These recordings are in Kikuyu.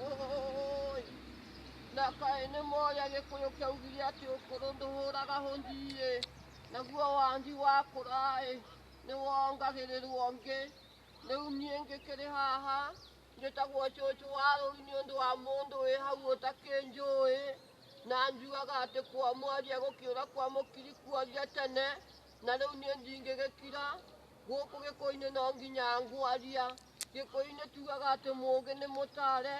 Oi! Na kaĩ nĩ moya gĩkũyũ kĩaugire atĩ ũkũrũ ndũhũraga hũnjiĩ naguo wangi wakũraĩ nĩ wongagĩrĩrwo ngĩ rĩu niĩ ngĩkĩrĩ haha njĩtagwo cũcũ wa rũri nĩ ũndũ wa mũndũ wĩ hau ũtakĩnjũĩ na njugaga atĩ kwa mwaria gũkĩũra kwa mũkiri kuoria tene na rĩu niĩ ndingĩgĩkira gũkũ gĩkũinĩ no nginya ngwaria Gĩkũyũ-inĩ tugaga atĩ mũũgĩ nĩ mũtare,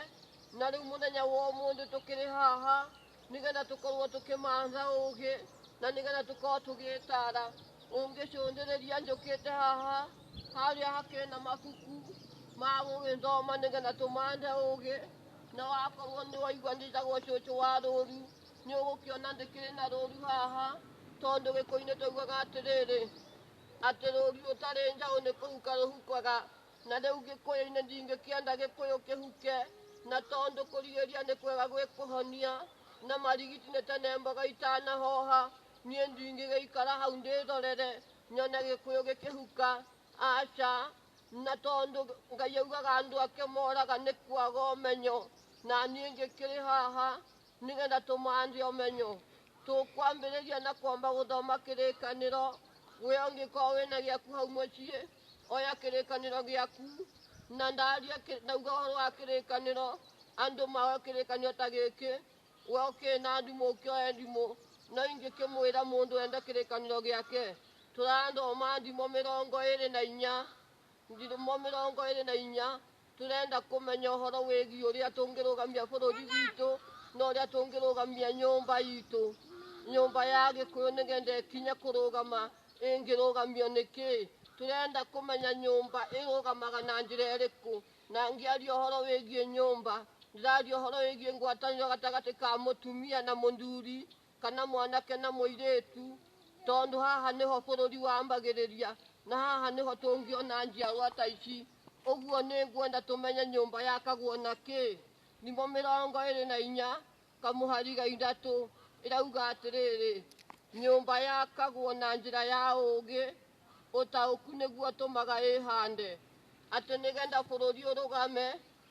na rĩu mũthenya wa ũmũthĩ tũkĩrĩ haha nĩgetha tũkorwo tũkĩmatha ũũgĩ na nĩgetha tũkorwo tũgĩtara. Ũngĩcũthĩrĩria njũkĩte haha, harĩa hakĩrĩ na mabuku ma gũgĩthoma nĩgetha tũmathe ũũgĩ, na wakorwo nĩ waigua njĩtagwo cũcũ wa rũũru, nĩ ũgũkĩona ndĩkĩrĩ na rũũru haha, tondũ Gĩkũyũ-inĩ twaugaga atĩrĩrĩ, Atĩ rũũri rũtarĩ njaũ nĩ kũhuka rũhukwaga, na rĩu Gĩkũyũ-inĩ ndingĩkĩenda Gĩkũyũ kĩhuke, na tondũ kũrigĩrĩria nĩ kwega gwĩ kũhonia, na marigiti nĩ tene mboga itanahoha, niĩ ndingĩgĩikara hau ndĩrorere nyone Gĩkũyũ gĩkĩhuka, aca, na tondũ Ngai augaga andũ ake moraga nĩ kwaga ũmenyo, na niĩ ngĩkĩrĩ haha Nĩgetha tũmaanjie ũmenyo, tũkwambĩrĩria na kwamba gũthoma kĩrĩkanĩro. We ũngĩkorwo wĩna gĩaku hau mũciĩ, oya kĩrĩkanĩro gĩaku na ndaria kĩ- ndauga ũhoro wa kĩrĩkanĩro, andũ maoe kĩrĩkanĩro ta gĩkĩ. We ũkĩrĩ na ndimũ ũkĩoe ndimũ, no ingĩkĩmwĩra mũndũ ende kĩrĩkanĩro gĩake. Tũrathoma ndimũ mĩrongo ĩrĩ na inya ndimũ mĩrongo ĩrĩ na inya Tũrenda kũmenya ũhoro wĩgiĩ ũrĩa tũngĩrũgamia bũrũri witũ na ũrĩa tũngĩrũgamia nyũmba itũ. Nyũmba ya Gĩkũyũ nĩgetha ĩkinye kũrũgama ĩngĩrũgamio nĩ kĩĩ? Tũrenda kũmenya nyũmba ĩrũgamaga na njĩra ĩrĩkũ. Na ngĩaria ũhoro wĩgiĩ nyũmba, ndĩraria ũhoro wĩgiĩ ngwatanĩro gatagatĩ ka mũtumia na mũthuri. kana mwanake na mũirĩtu tondũ haha nĩho bũrũri wambagĩrĩria na haha nĩho tũngĩona njiarwa ta ici ũguo nĩ ngwenda tũmenye nyũmba yakagwo na kĩ nimo mĩrongo ĩrĩ na inya kamũhari ga ithatũ ĩrauga atĩrĩrĩ nyũmba yakagwo na njĩra ya ũũgĩ ũtaũku nĩguo tũmaga ĩhande atĩ nĩgetha bũrũri ũrũgame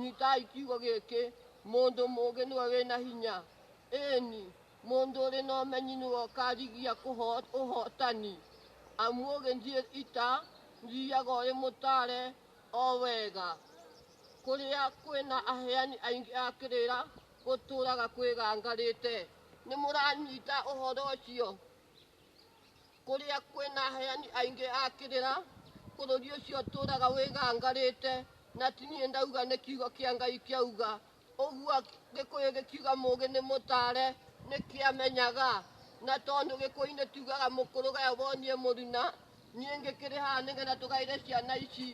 Nyitai kiugo gĩkĩ, Mũndũ mũũgĩ nĩwe wĩ na hinya, ĩĩni, mũndũ ũrĩ na ũmenyi nĩwe ũkaarigia kũho- ũhootani. Amu ũũgĩ ndirĩ ita, thiiaga ũrĩ mũtaare o wega. Kũrĩa kwĩ na aheani aingĩ a kĩrĩra, gũtũũraga kwĩgangarĩte. Nĩmũranyita ũhoro ũcio? Kũrĩa kwĩ na aheani aingĩ a kĩrĩra, bũrũri ũcio ũtũũraga wĩgangarĩte, na ti niĩ ndauga nĩ kiugo kĩa Ngai kĩauga ũguo. Gĩkũyũ gĩkiuga mũũgĩ nĩ mũtaare, nĩkĩamenyaga. Na tondũ Gĩkũyũ-inĩ tugaga mũkũrũgae wonie mũruna, niĩ ngĩkĩrĩ haha nĩgetha tũgaĩre ciana ici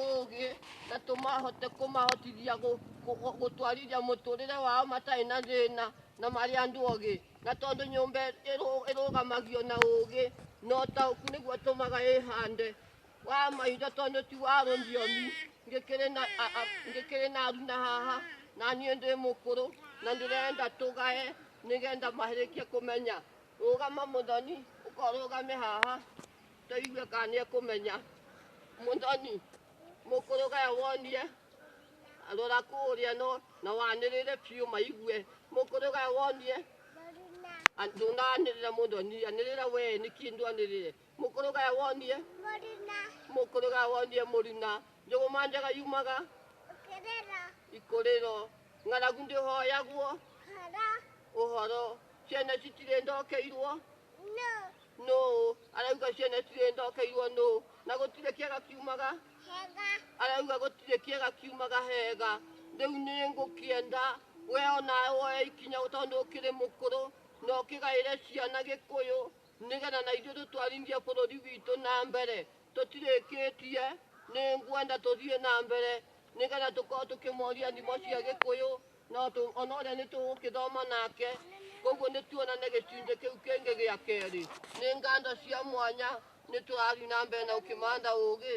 ũũgĩ na tũmahote kũmahotithia gũ- gũ- gũtwarithia mũtũrĩre wao matarĩ na thĩna na marĩ andũ ogĩ. Na tondũ nyũmba ĩrũ- ĩrũgamagio na ũũgĩ na ũtaũku nĩguo ũtũmaga ĩhande wa maitho tondũ ti wa rũthiomi ngĩkĩrĩ na a- a- ngĩkĩrĩ na aru na haha na niĩ ndĩ mũkũrũ na ndĩrenda tũgae nĩgetha marĩkie kũmenya rũgama mũthoni ũkorũgame haha tũigue kana nĩ ekũmenya mũthoni mũkũrũ gaya wonie Rora kũrĩa no na wanĩrĩre biũ maigue. Mũkũrũ ga wonie ndũnanĩrĩra mũndũ anĩrĩra anĩrĩra we nĩ kĩndũ anĩrĩre. Mũkũrũ ga wonie mũkũrũ ga wonie mũruna. Njũgũma njega yumaga ikũrĩro. Ng'aragu ndĩhoyagwo ũhoro. Ciana citirĩ ndokeirwo nũ arauga ciana citirĩ ndokeirwo nũ na gũtirĩ kĩega kiumaga. arauga gũtirĩ kĩega kiumaga hega rĩu nĩ ngũkĩenda we onawe woe ikinya tondũ ũkĩrĩ mũkũrũ na ũkĩgaĩre ciana gĩkũyũ nĩgetha na ithuĩ tũtwarithie bũrũri witũ na mbere tũtirĩkĩtie nĩ ngwenda tũthiĩ na mbere nĩgetha tũkorwo tũkĩmoria thimo cia gĩkũyũ No tũ- ona ũrĩa nĩ tũgũkĩthoma nake koguo nĩ tuona nĩ gĩcunjĩ kĩu kĩngĩ gĩa kerĩ nĩ nganda cia mwanya nĩ tũrathiĩ na mbere na ũkĩmanda ũgĩ